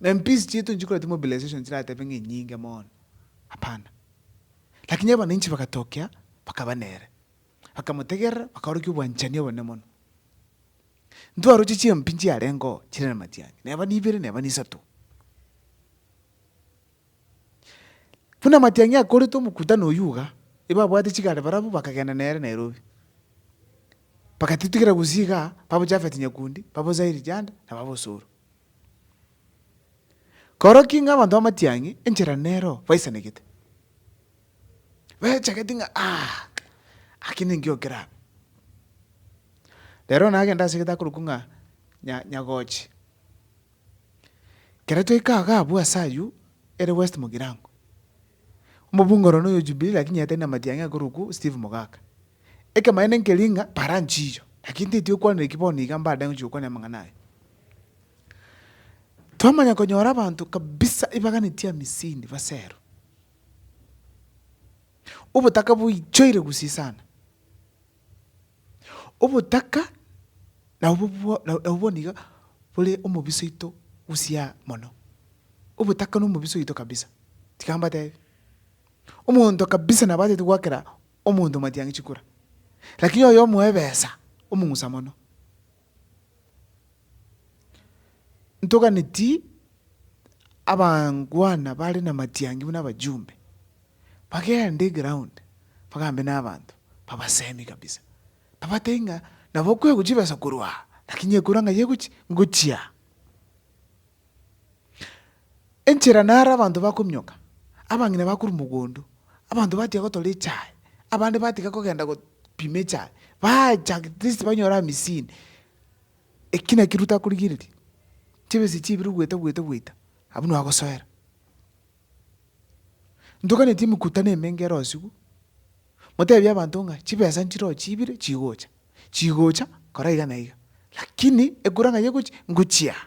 Na empisi chiaito nchikora chimobilization chiratebe ng'a enyinge mono, hapana. Lakini abananchi bagatokea bakaba nere, bakamotegerera bakaorokia obwanchani obonene mono. Ntwaroche chiempi nchiarengeo chire namatiangi, neba nibere neba nisato. Buna amatiang'i akorete omokutano oyio iga, ebabwate chigare barabwo bakagenda nere Nairobi. Bagatitigera gusii igaa, babo Japhet Nyakundi, babo Zairi Janda, na babo Osoro. Korokio ing'a abanto ba amatiang'i, enchera nero baisanegete, bachagete ng'a aki ninki okeraba. Rero nagenda asegete akorokwa ng'a Nya- Nyagochi. Ekero twaika iga abwo ase ayio, ere west mogirango, omobunge oro noyo Jubilee lakini yetani na matiang'i akorokwu Steve Mogaka. Ekemanyeto nkeria ng'a para nchiyo, lakini teti okwanire ki bono iga mbade ngochia gokwania amang'ana aya. Twamanya konyora abanto kabisa ibaganeti amisini basero. Obotaka boichoire gusii sana. Obotaka nabwo nabwo boniga bore omobisa oito gusyaa mono. Obotaka nomobisa oito kabisa. Tiga mbatebi, omonto kabisa nabataete goakera omonto matiang'i chikura, lakini oyo omoe ebesa, omong'usa mono. Ntoganeti abangwana bare namatiangi buna abajumbe, bagende eground bagambe nabanto, babasemi kabisa, babatebie ng'a nabo okwegwa chibesa korwa aa, lakini ekura ng'ai egochi ngochia aa. Enchera naro abanto bakomioka, abang'ina bakorwa mogondo, abanto batiga gotora echae, abande batiga kogenda gopima echae, baacha at least banyore amisini. Eki nakio Ruto akorigereria, chibesa echi chibire goeta goeta goeta, abwo nigo agosoera. Ntoganeti emekutano emenge erosiwu, motebie abanto ng'a chibesa nchiroche chibire chigocha, chigocha kora iga na iga, lakini ekura ng'a yegochi, ngochia aa.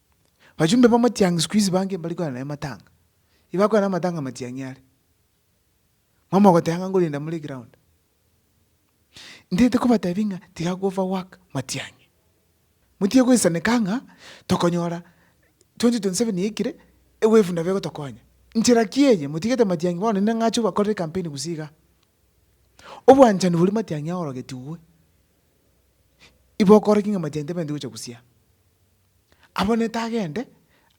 Bachumbe b'amatiang'i sikuizi bange mbari kogenda naye matanga. Ibakogenda amatanga amatiang'i are. Mama ogoteba ng'a nkorenda more eground. Ntaete kobatebia ng'a tiga ko over work matiang'i. Motige goisaneka ng'a tokonyora 2027 yaikire ewevu nabo egotokonya. Nchera ki eye motigete matiang'i bono inde ng'ache obakorere campaign gose igaa. Obwanchani bori matiang'i aorogetigwe. Iba okore ki ng'a matiang'i tabaeti gocha gusira. Abonete agende,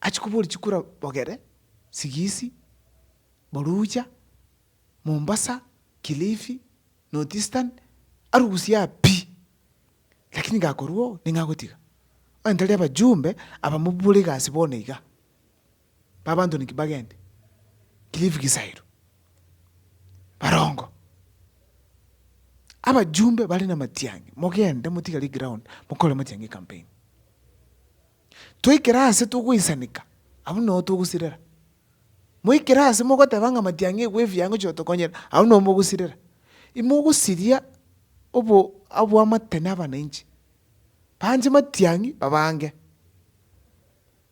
achie koboria chikura bogere, Sigisi, Boruja, Mombasa, Kilifi, North Eastern, arusie aa pi. Lakini gakorwa oo, ning'agotiga. Onye tari abajumbe, aba mobore egasi bono iga. b'abanto ninki bagende? Cliff Gisairu, barongo. Abajumbe bare namatiang'i, mogende motigare eground mokore amatiang'i ecampaign. Toikere ase togoisanika, abwo noo togosirera. Moikere ase mogoteba ng'a amatiang'i igwe efiya ngochi gotokonyera, abwo noo mogosirera. Imogosiria obo oboamate na abanainchi, banche matiang'i babange.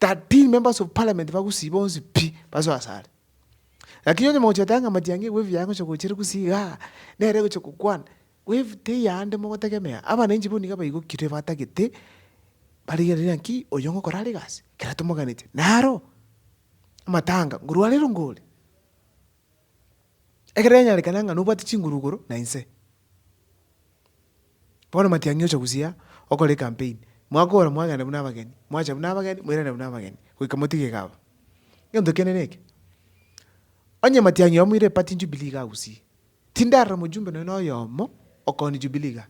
Thirteen members of parliament bagusii bonsi pi basoe asare. Lakini onye mogochia goteba ng'a matiang'i eye wave yaye ngochia gochire gusii igaa, nere egochia gokwana, wave teyande mogotegemea, abananchi bono niga baigokire batagete, barigereria ng'aki oyo ngokora are egasi, ekero tomoganetie. Naro, amatanga, ngorwa arero ngore. Ekero yanyarekana ng'a nobwate chinguru igoro na inse. Bono matiang'i ocha gusii aa, okore ecampaign, mwakora mwagenda buna abageni, mwacha buna abageni, mwairana buna abageni, goika motige iga aba. Egento kende neke, onye matiang'i oyomo oire epati jubilee iga agusii, tindarora mojumbe nonya na oyomo okoonia jubilee igaa,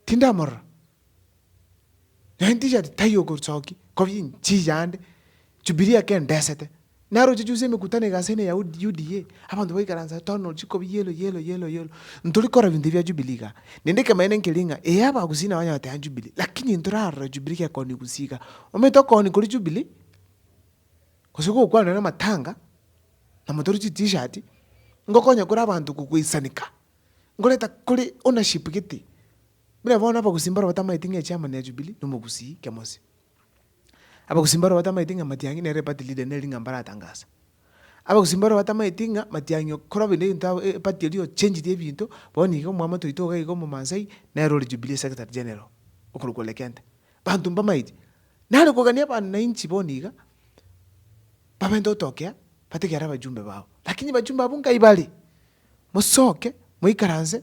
tindamorora. Naende tishati taiyo ogosoki kobie inchi yande, Jubilee eke endesete. Naro ochiche ase emekutano iga ase ene UDA, abanto baikaransa tono chikobi yellow yellow yellow yellow. Ntori korora ebinto bia Jubilee iga. Naende ekemanyeto nkeri ng'a ee abagusii nabo banyara goteba Jubilee, lakini ntorarora Jubilee gekoonia gusii iga. Omanyete okoonia koria Jubilee, gose gokwanwa na amatanga, na motore chi T-shirt, ngokonya kore abanto goisanika, ngoreta kore ownership gete, Buna bono abagusii mbarabwo batamaeti ng'a echairman ya Jubilee nomogusii Kemosi. Abagusii mbarabwo batamaeti ng'a Matiang'i nere eparty leader neri ng'a mbaratangasa. Abagusii mbarabwo batamaeti ng'a Matiang'i okorwa bende egento ago eparty eria ochanged ebinto, bono iga omwamate oito iga iga omomaasai nere ore Jubilee secretary general okorokwa Ole Kenta. Banto mbamaeti. Nare kogania abanainchi bono iga, babenta gotokea batege are abajumbe babo. Lakini abajumbe abwo nkaibare, mosoke, moikaranse.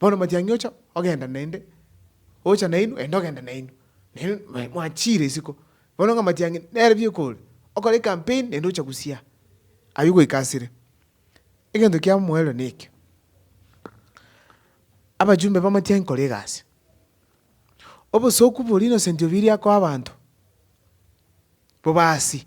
Bono matiang'i ocha ogenda naende, ocha nainwe naende ogenda nainwe. Nainwe mwachiire isiko. Bono ng'a matiang'i nere biekore, okore ecampaign naende ocha gosia aywo goika asire. Egento kia omoerero nekio, abachumbe ba matiang'i kora egasi. Obosooku boria innocent obiiri akoa abanto, bobaasi,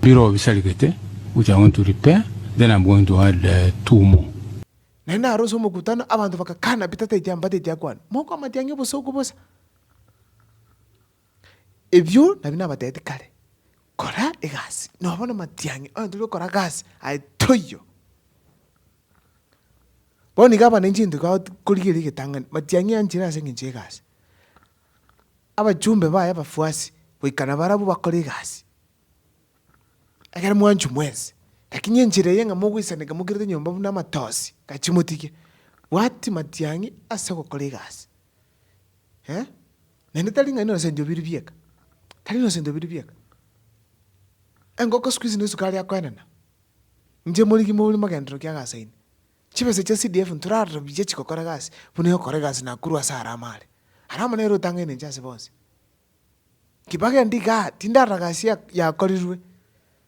Biro bisarigete gocha onto ripe, then I'm going to add two more. Naende aro ase omokutano abanto bagakana Peter taiche amba taiche akwane, mokoamatia ng'a obosooku bosa. Ebio nabio nabateeti kare, kora egasi, noo bono matiang'i onye tori okora gasi, aye toiyo. Bono iga abananchi egento korigereria egetang'ani, matiang'i anchire ase engencho y'egasi. Abachumbe baye abafuasi goika nabarabwo bakore egasi, ekero mwanchwa mwensi, lakini enchera eye ng'a mogoisaneka mokirete nyomba buna amatosi, gachia motige. Bwati matiang'i ase ogokora egasi, eh, naende tari ng'a nonye osenchwa obiiri bieka, tari nonye osenchwa obiiri bieka. Engoko sikuizi nesukari akoenana, inche morigie mobori mogenderero kiagasaine. Chibesa chia CDF ntorarorobie chigokora egasi buna egokora egasi Nakuru ase ara amare. Ara amo nere otangaine inche ase bonsi. Kibaki endi igaa tindarora gasi ya yakorirwe.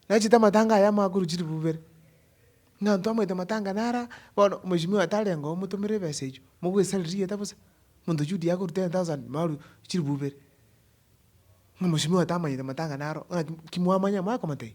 Nachete amatanga aya amakuru chiri bubere. Ng'a ntwamaete amatanga nara bono mweshimiwa atarenge oo motomere ebesa echio mogwesarire rigeta bosa. Monto Judy akoru ten thousand maru chiri bubere. Ng'a mweshimiwa tamanyete amatanga naro ng'aki ki mwamanya mwakomotebi.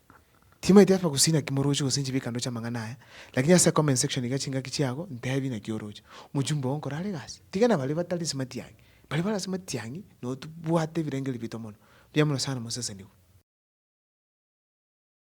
Timaeti afa gusii naki moroche gose inche bikando chi'amang'ana aya, lakini ase comment section iga chingaki chiago ntebi naki oroche. Omochumba oo nkore are egasi? Tiga nabaria batari ase matiang'i. Baria bare ase matiang'i noo tobwate ebirengerio bito mono. Mbuya mono sana mosesenigwe.